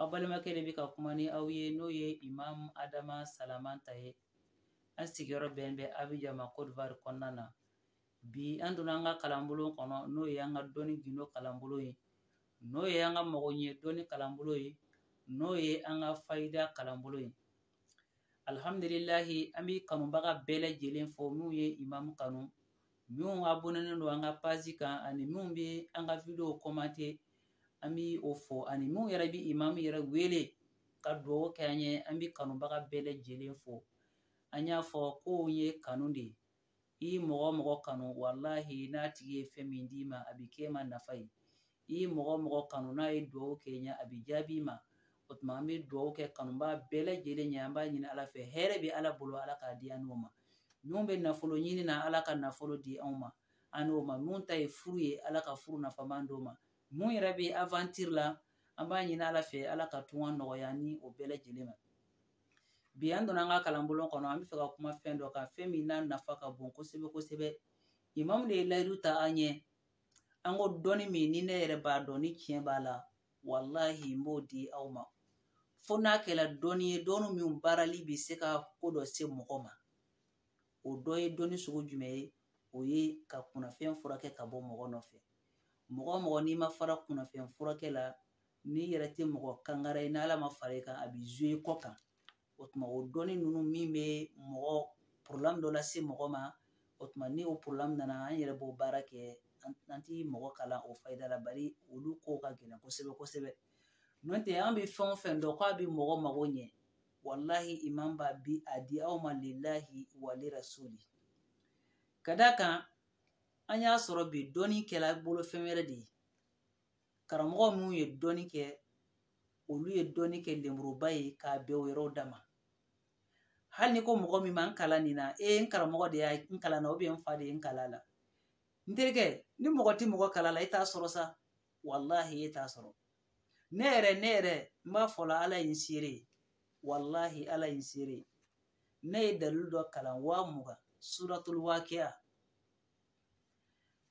aw balimakɛ de bɛ ka kuma ni aw ye n'o ye imamu adama salamanta ye an sigiyɔrɔ bɛn bɛ abijan ma kɔdiwari kɔnɔna na bi an donna an ka kalanbolo kɔnɔ n'o ye an ka dɔnni gindo kalanbolo ye n'o ye an ka mago ɲɛ dɔnni kalanbolo ye n'o ye an ka fayida kalanbolo ye alihamdulilahi an bɛ kanubaga bɛɛ lajɛlen fo minnu ye imamu kanu minnu abɔnenen don an ka pazi kan ani minnu bɛ an ka video kɔmante an bɛ o fo ani minnu yɛrɛ bɛ imamu yɛrɛ wele ka dugawu kɛ an ye an bɛ kanubaga bɛɛ lajɛlen fo an y'a fɔ ko ye kanu de ye i mɔgɔ mɔgɔ kanu walahi n'a tigi ye fɛn min d'i ma a bɛ kɛ ma nafa ye i ye mɔgɔ mɔgɔ kanu n'a ye dugawu kɛ ɲɛ a bɛ jaabi ma o tuma an bɛ dugawu kɛ kanubaa bɛɛ lajɛlen ɲɛ an b'a ɲini ala fɛ hɛrɛ bɛ ala bolo ala k'a di an n'o ma minnu bɛ nafolo ɲini na ala ka nafolo di anw ma an n'o ma minnu ta ye furu ye ala ka furu nafama d'o ma minnu yɛrɛ bɛ aventure la an b'a ɲini ala fɛ ala ka tunga nɔgɔya ni o bɛɛ lajɛlen ma bi an donna an ka kalanbolo kɔnɔ an bɛ fɛ ka kuma fɛn dɔ kan fɛn min n'a nafa ka bon kosɛbɛ kosɛbɛ imamu de ye layidu ta an ɲɛ an ko dɔnni min ni ne yɛrɛ b'a dɔn ni tiɲɛ b'a la walahi n b'o di aw ma fo n'a kɛra dɔnni ye dɔnni min baarali bɛ se ka ko dɔ se mɔgɔ ma o dɔ ye dɔnni sugu jumɛn ye o ye ka kunnafɛn furakɛ ka bɔ mɔgɔ nɔfɛ mɔgɔ mɔgɔ n'i ma fara kunnafɛn furakɛ la n'i yɛrɛ tɛ mɔgɔ kangara ye n'ala ma fara i kan a b'i zuwe kɔ kan o tuma o dɔnni ninnu min bɛ mɔgɔ problème dɔ lase mɔgɔ ma o tuma ni o problème nana an yɛrɛ b'o baara kɛ an ti mɔgɔ kalan o fayida la bari olu ko ka gɛlɛn kosɛbɛ kosɛbɛ n'o tɛ an bɛ fɛn o fɛn dɔn k'a bɛ mɔgɔ mago ɲɛ walahi imamu b'a bi a di aw ma lilahi wa li rasuli ka d'a kan an y'a sɔrɔ bi dɔnni kɛla bolo fɛn wɛrɛ de ye karamɔgɔ minnu ye dɔnni kɛ olu ye dɔnni kɛ lenburuba ye k'a bɛn o yɛrɛw da ma hali n'i ko mɔgɔ min ma n kalan nin na e n karamɔgɔ de y'a n kalan na n fa de ye n kalan la n terikɛ ni mɔgɔ tɛ mɔgɔ kalan la e t'a sɔrɔ sa walahi e t'a sɔrɔ ne yɛrɛ ne yɛrɛ n b'a fɔ la ala ye n seere ye walahi ala ye n seere ye ne ye dalilu dɔ kalan waa mugan suratul wakiya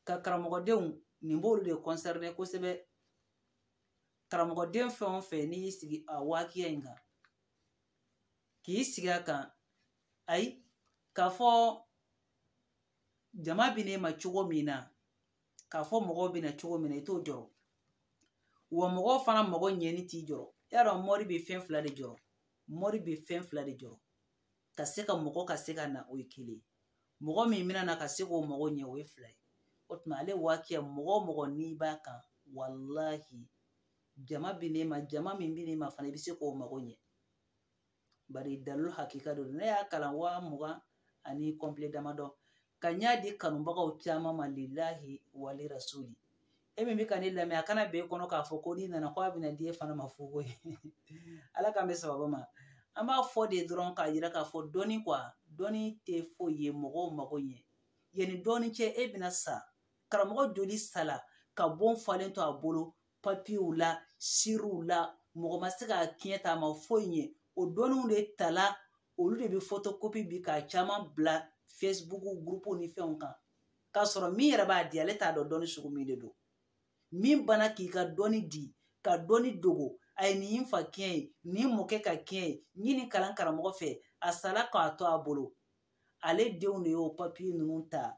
ka karamɔgɔdenw nin b'olu de kɔnsɛrɛne kosɛbɛ karamɔgɔden fɛn o fɛn n'i y'i sigi a wakiya in kan k'i sigi a kan ayi k'a fɔ jama bɛ na i ma cogo min na k'a fɔ mɔgɔw bɛ na cogo min na i t'o jɔrɔ wa mɔgɔw fana mago ɲɛni t'i jɔrɔ y'a dɔn mɔri bɛ fɛn fila de jɔrɔ mɔri bɛ fɛn fila de jɔrɔ ka se ka mɔgɔ ka se ka na o ye kelen mɔgɔ min bɛna na ka se k'o mago ɲɛ o ye fila ye o tuma ali wakiya mɔgɔ o mɔgɔ n'i b'a kan walahi jama bi ne ma jama min bi ne ma fana i bɛ se k'o mago ɲɛ bari dalilu hakika don ne y'a kalan waa mugan ani kɔnpile damadɔ ka n y'a di kanubagaw caman ma lilahi wali rasuli e min bɛ ka ne lamɛn a kana bɛn e kɔnɔ k'a fɔ ko n'i nana ko a bɛna di e fana ma fu koyi ala k'an bɛn sababu ma an b'a fɔ de dɔrɔn k'a yira k'a fɔ dɔnni kuwa dɔnni tɛ foyi ye mɔgɔw mago ɲɛ yanni dɔɔni cɛ e bɛna sa karamɔgɔ joli sala ka bon falen to a bolo papiyew la siriw la mɔgɔ ma se ka kiɲɛ ta a ma foyi ɲɛ o dɔnniw de tala olu de bɛ fotokopi bi k'a caman bila fesibuku gurupu ni fɛnw kan k'a sɔrɔ min yɛrɛ b'a di ale t'a dɔn dɔnni sugu min de don min bana k'i ka dɔnni di ka dɔnni dogo a ye nin fa kiɲɛ ye nin mɔkɛ ka kiɲɛ ye n ye nin kalan karamɔgɔ fɛ a sala k'a to a bolo ale denw de y'o papiye ninnu ta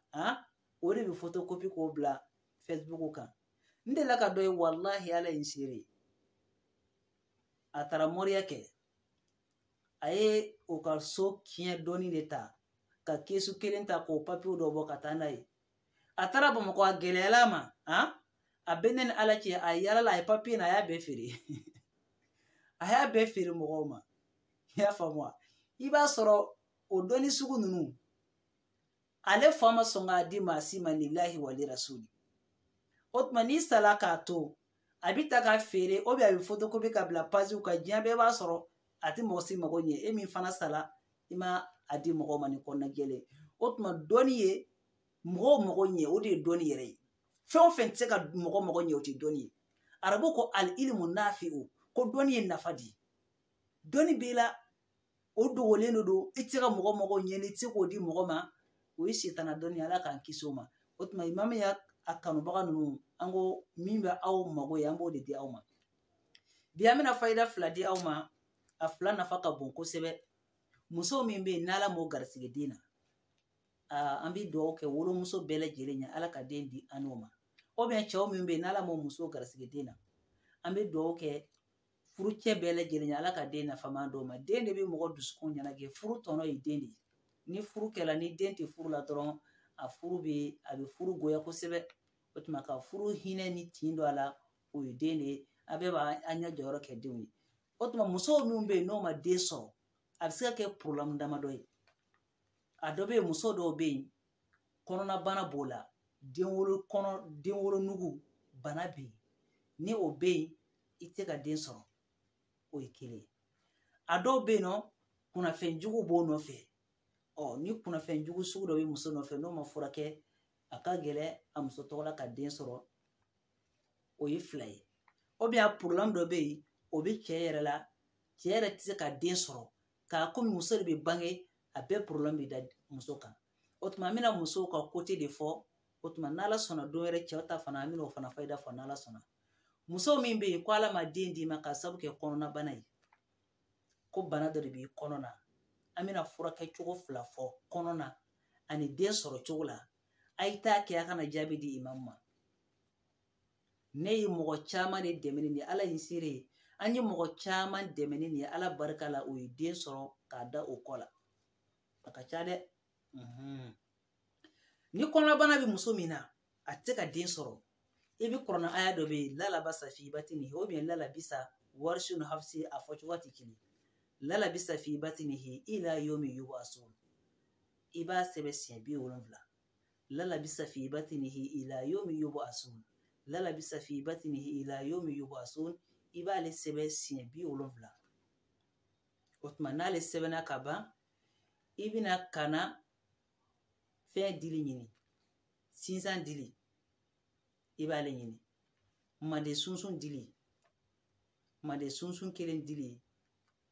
o de bɛ fotokopi k'o bila fesibuku kan n delila ka dɔ ye walahi ala ye n seere ye a taara mɔriya kɛ a ye o ka so kiɲɛ dɔnni de ta ka kesu kelen ta k'o papiyew dɔ bɔ ka taa n'a ye a taara bamakɔ a gɛlɛyala a ma han a bɛ ne ni ala cɛ a yalala a ye papiye na a y'a bɛɛ feere a y'a bɛɛ feere mɔgɔw ma i y'a faamu wa i b'a sɔrɔ o dɔnni sugu ninnu ale fa ma sɔn k'a di maa si ma lilahi wali rasuli o tuma n'i sala k'a to a bɛ ta ka feere ou bien a bɛ fotokopi ka bila paziw kan diɲɛ bɛɛ b'a sɔrɔ a tɛ mɔgɔ si mago ɲɛ e min fana sala i ma a di mɔgɔ ma ni kɔnɔna jɛlen o tuma dɔnni ye mɔgɔw mago ɲɛ o de ye dɔnni yɛrɛ ye fɛn o fɛn tɛ se ka mɔgɔ mago ɲɛ o tɛ dɔnni ye arabu ko ali ilimu nafi o ko dɔnni ye nafa di dɔnni b'i la o dogolen de don i tɛ se ka mɔgɔ mago ɲɛ n'i tɛ se k'o di mɔgɔ ma o ye sitana dɔnni ala k'an kisi o ma o tuma imamu yaya kanubaga ninnu an ko min bɛ aw mago ɲɛ an b'o de di aw ma bi an bɛna fayida fila di aw ma a fila nafa ka bon kosɛbɛ muso min bɛ yen n'ala m'o garisɛgɛ den na an bɛ dugawu kɛ wolomuso bɛɛ lajɛlen ye ala ka den di an n'o ma ou bien cɛw min bɛ yen n'ala m'o muso garisɛgɛ den na an bɛ dugawu kɛ furucɛ bɛɛ lajɛlen ye ala ka den nafama d'o ma den de bɛ mɔgɔ dusukun ɲɛnajɛ furu tɔnɔ ye den de ye ni furu kɛla ni den tɛ furu la dɔrɔn a furu bɛ a bɛ furu goya kosɛbɛ o tuma ka furu hinɛ ni tin don a la o ye den de ye a bɛɛ b'a an ɲɛ jɔyɔrɔ kɛ denw ye o tuma musow minnu bɛ yen n'o ma den sɔrɔ a bɛ se ka kɛ porobilɛmu damadɔ ye a dɔ bɛ yen muso dɔw bɛ yen kɔnɔnabana b'o la denwolo kɔnɔ denwolonugu bana bɛ yen ni o bɛ yen i tɛ se ka den sɔrɔ o ye kelen ye a dɔw bɛ yen nɔ kunnafɛn jugu b'o nɔfɛ ɔ ni kunnafɛn jugu sugu dɔ bɛ muso nɔfɛ n'o ma furakɛ a ka gɛlɛn a muso tɔgɔ la ka den sɔrɔ o ye fila ye ubiyɛn a porobilɛmu dɔ bɛ yen o bɛ cɛ yɛrɛ la cɛ yɛrɛ tɛ se ka den sɔrɔ nka komi muso de bɛ bange a bɛɛ porobilɛmu bɛ da muso kan o tuma an bɛna musow ka kote de fɔ o tuma n'ala sɔnna don wɛrɛ cɛw ta fana an bɛna o fana fayida fɔ n'ala sɔnna muso min bɛ yen ko ala ma den d'i ma k'a sabu kɛ kɔnɔnabana ye ko bana dɔ de b'i kɔnɔ na an bɛna furakɛ cogo fila fɔ kɔnɔ na ani den sɔrɔ cogo la a ye taa kɛ a ka na jaabi di imamu ma ne ye mɔgɔ caman de dɛmɛ ni nin ye ala ye n seere ye an ye mɔgɔ caman dɛmɛ ni nin ye ala barika la u ye den sɔrɔ k'a da o kɔ la a ka ca dɛ mhm. ni kɔnɔnabana bɛ muso min na a tɛ se ka den sɔrɔ i bɛ kuranɛ aya dɔ bɛ yen lalabasa fi batinihi ubiyɛn lalabisa warisu ni hafisi a fɔ cogo tɛ kelen lalabisa fi batinihi ila yomi yubasun i b'a sɛbɛn siɲɛ bi wolonfila lalabisa fi batinihi ila yomi yobo asun lalabisa fi batinihi ila yomi yobo asun i b'ale sɛbɛn siɲɛ bi wolonfila o tuma n'ale sɛbɛnna ka ban i bɛna ka na fɛn dili ɲini sinsan dili i b'ale ɲini manden sunsun dili manden sunsun kelen dili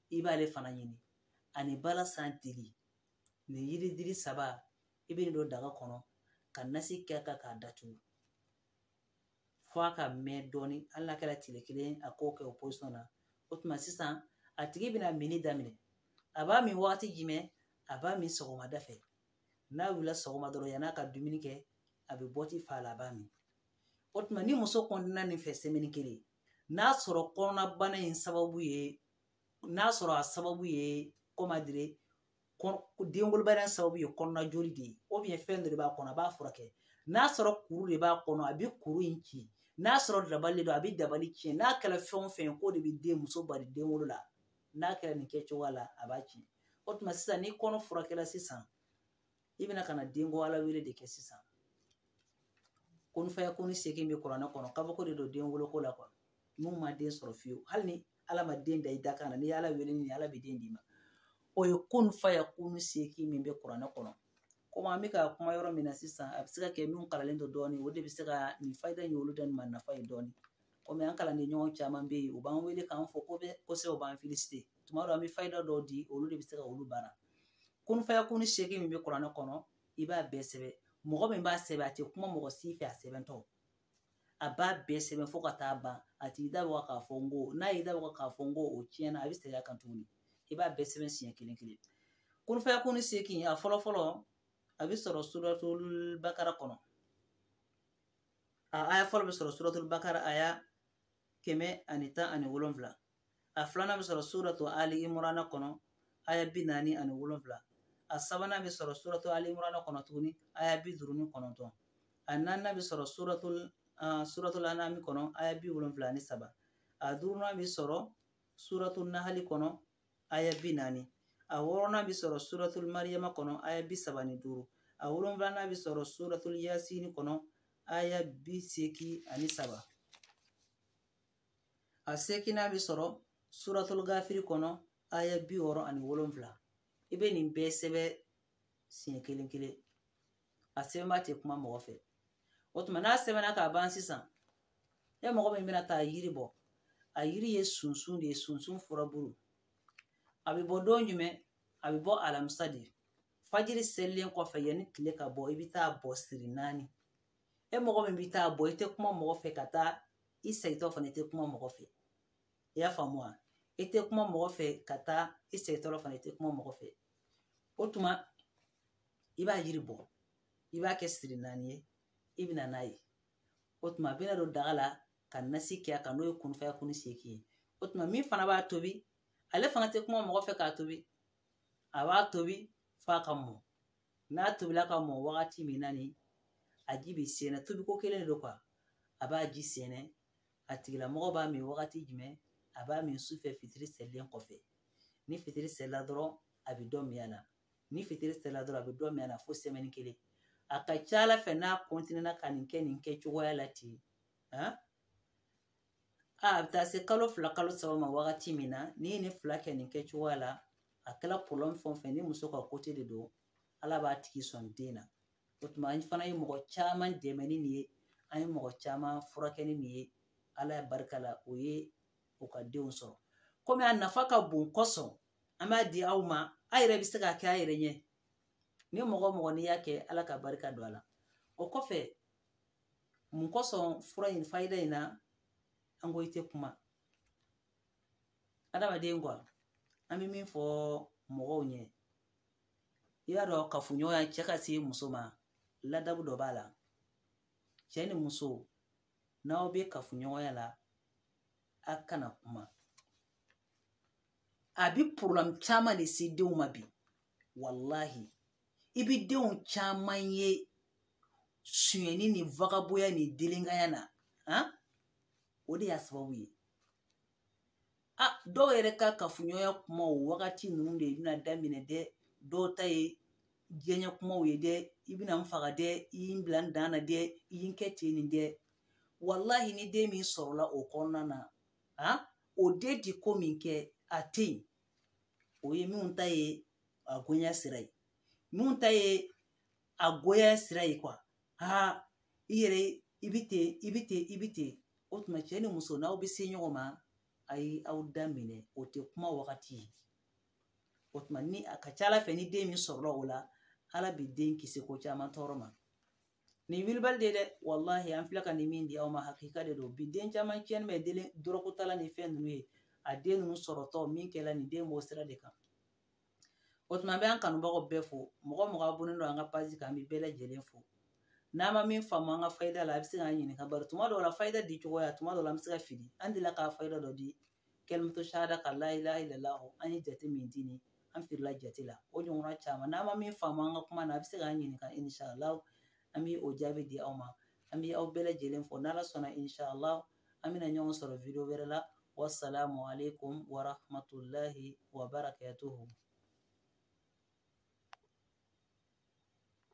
i b'ale fana ɲini ani balasan dili nin yiri dili saba i bɛ nin don daga kɔnɔ ka nasi kɛ a kan k'a datugu f'a ka mɛn dɔɔni hali n'a kɛra tile kelen a k'o kɛ o pozisiyɔn na o tuma sisan a tigi bɛna minni daminɛ a b'a min wagati jumɛn a b'a min sɔgɔmada fɛ n'a wulila sɔgɔma dɔrɔn yann'a ka dumuni kɛ a bɛ bɔti fa la a b'a min o tuma ni muso kɔntinena nin fɛ sɛmɛni kelen n'a sɔrɔ kɔnɔnabana in sababu ye n'a sɔrɔ a sababu ye kɔmadire denwolobaliya sababu ye kɔnɔna joli de ye ubiyɛn fɛn dɔ de b'a kɔnɔ a b'a furakɛ n'a sɔrɔ kuru de b'a kɔnɔ a bɛ kuru in ci n'a sɔrɔ dabali don a bɛ dabali tiɲɛ n'a kɛra fɛn o fɛn k'o de bɛ den muso bali den wolo la n'a kɛra nin kɛcogoya la a b'a ci o tuma sisan ni kɔnɔ furakɛla sisan i bɛna ka na denko ala wele de kɛ sisan kun fayakunu segin bɛ kuranɛ kɔnɔ kabako de don den woloko la min ma den sɔrɔ fiyewu hali ni ala ma den da i dakan na n'i ala wele ni ala bɛ den d'i ma o ye kun fayakunu segin min bɛ kuranɛ kɔnɔ komi an bɛ ka kuma yɔrɔ min na sisan a bɛ se ka kɛ min kalannen don dɔɔnin o de bɛ se ka nin fayida in olu da nin ma nafa ye dɔɔnin komi an kalanden ɲɔgɔn caman bɛ yen u b'an wele k'an fo kosɛbɛ u b'an filisite tuma dɔ an bɛ fayida dɔw di olu de bɛ se ka olu baara kunfaya kuni seegin min bɛ kuranɛ kɔnɔ i b'a bɛɛ sɛbɛn mɔgɔ min b'a sɛbɛn a tɛ kuma mɔgɔ si fɛ a sɛbɛntɔ a b'a bɛɛ sɛbɛn fo ka taa ban a t'i da waga k'a fɔ n ko n'a y'i da waga k'a fɔ n ko o tiɲɛna a bɛ segin a kan tuguni i b'a bɛɛ sɛbɛn siɲɛ kelen kelen kunfaya kuni seegin a fɔlɔ fɔlɔ a bɛ sɔrɔ suratul bakara kɔnɔ a aya fɔlɔ bɛ sɔrɔ suratul bakara aya kɛmɛ ani tan ani wolonwula a filanan bɛ sɔrɔ suratu ali imurana kɔnɔ aya bi naani ani wolonfila a sabanan bɛ sɔrɔ suratu ali imurana kɔnɔ tuguni aya bi duuru ni kɔnɔntɔn a naaninan bɛ sɔrɔ suratul anami kɔnɔ aya bi wolonfila ani saba a duurunan bɛ sɔrɔ suratul nahali kɔnɔ aya bi naani a wɔɔrɔnan bɛ sɔrɔ suratul mariyama kɔnɔ aya bi saba ni duuru a wolonfilanan bɛ sɔrɔ suratul yasini kɔnɔ aya bi seegin ani saba a seeginnan bɛ sɔrɔ suratul gafiri kɔnɔ aya bi wɔɔrɔ ani wolonfila i bɛ nin bɛɛ sɛbɛn siɲɛ kelen kelen a sɛbɛnba tɛ kuma mɔgɔ fɛ o tuma n'a sɛbɛnna k'a ban sisan e mɔgɔ min bɛna taa yiri bɔ a yiri ye sunsun de ye sunsun furabulu a bɛ bɔ don jumɛn a bɛ bɔ alamisa de fajiri selilen kɔfɛ yanni tile ka bɔ i bɛ taa bɔ siri naani e mɔgɔ min bɛ taa bɔ i tɛ kuma mɔgɔ fɛ ka taa i segintɔ fana i tɛ kuma mɔgɔ fɛ i y'a faamu wa i tɛ kuma mɔgɔ fɛ ka taa i segintɔ fana i tɛ kuma mɔgɔ fɛ o tuma i b'a yiri bɔ i b'a kɛ siri naani ye i bɛ na n'a ye o tuma a bɛna don daga la ka nasi kɛ a kan n'o ye kunfaya kuni seegin ye o tuma min fana b'a tobi ale fana tɛ kuma mɔgɔ fɛ k'a tobi a b'a tobi f'a ka mɔ n'a tobila ka mɔ wagati min na ni a ji bɛ sɛɛnɛ tobiko kelen de don kuwa a b'a ji sɛɛnɛ a tigilamɔgɔ b'a min wagati jumɛn a b'a min su fɛ fitiri selilen kɔfɛ ni fitiri selila dɔrɔn a bɛ dɔ min a la ni fitiri selila dɔrɔn a bɛ dɔ min a la fo sɛmɛni kelen a ka ca ala fɛ n'a kɔntinɛna ka nin kɛ nin kɛ cogoya la ten a bɛ taa se kalo fila kalo saba ma wagati min na n'i ye nin fila kɛ nin kɛ cogoya la a kɛla pɔrɔblɛmu fɛn o fɛn ni muso ka kote de don ala b'a tigi sɔn den na o tuma an fana ye mɔgɔ caman dɛmɛ ni nin ye an ye mɔgɔ caman furakɛ ni nin ye ala ye barika la u ye u ka denw sɔrɔ komi a nafa ka bon kosɔn an b'a di aw ma a yɛrɛ bɛ se k'a kɛ a yɛrɛ ɲɛ ni mɔgɔ o mɔgɔ n'i y'a kɛ ala ka barika don a la o kɔfɛ mun kosɔn fura in fayida in na an ko i tɛ kuma adamaden kuwa an bɛ min fɔ mɔgɔw ɲɛ i y'a dɔn kafoɲɔgɔnya cɛ ka se muso ma ladabu dɔ b'a la cɛ ni muso n'aw bɛ kafoɲɔgɔnya la a kana kuma a bɛ pɔrɔbulɛmu caman de se denw ma bi walahi i bi denw caman ye sonyɛni ni vagaboya ni delenkanya na han o de y'a sababu ye a dɔw yɛrɛ ka kafoɲɔgɔnya kuma o wagati ninnu de bɛna daminɛ dɛ dɔw ta ye diyanyɛ kumaw ye dɛ i bɛna n faga dɛ i ye n bila n dan na dɛ i ye n kɛ ten nin dɛ walahi ni den min sɔrɔla o kɔnɔna na han o den ti ko min kɛ a tɛ yen o ye minnu ta ye a goya sira ye minnu ta ye a goya sira ye kuwa aa i yɛrɛ i bɛ ten i bɛ ten i bɛ ten o tuma cɛ ni muso n'aw bɛ se ɲɔgɔn ma a ye aw da minɛ o tɛ kuma wagati ye o tuma ni a ka ca ala fɛ ni den min sɔrɔla o la ala bɛ den kisi ko caman tɔɔrɔ ma nin wilibali de dɛ walahi an filɛ ka nin min di aw ma hakika de don bi den caman tiɲɛnen bɛ delen dɔrɔgutala ni fɛn ninnu ye a den ninnu sɔrɔtɔ min kɛla nin den b'o sira de kan o tuma an bɛ an kanubagaw bɛɛ fo mɔgɔ o mɔgɔ abonnen don an ka pazi kan an bɛ bɛɛ lajɛlen fo n'a ma min faamu an ka fayida la a bɛ se k'an ɲininka bari tuma dɔw la fayida di cogoya tuma dɔw la an bɛ se ka fili an delila ka fayida dɔ di kalimatu sahada ka layilaha ilalahu an ye jate min di ni an filila jate la o ɲɔgɔnna caman n'a ma min faamu an ka kuma na a bɛ se k'an ɲininka insalaw an bɛ o jaabi di aw ma an bɛ aw bɛɛ lajɛlen fo n'ala sɔnna insalaw an bɛna ɲɔgɔn sɔrɔ video wɛrɛ la wasalamu aleykum wa rahmatulahi wa barakatuhu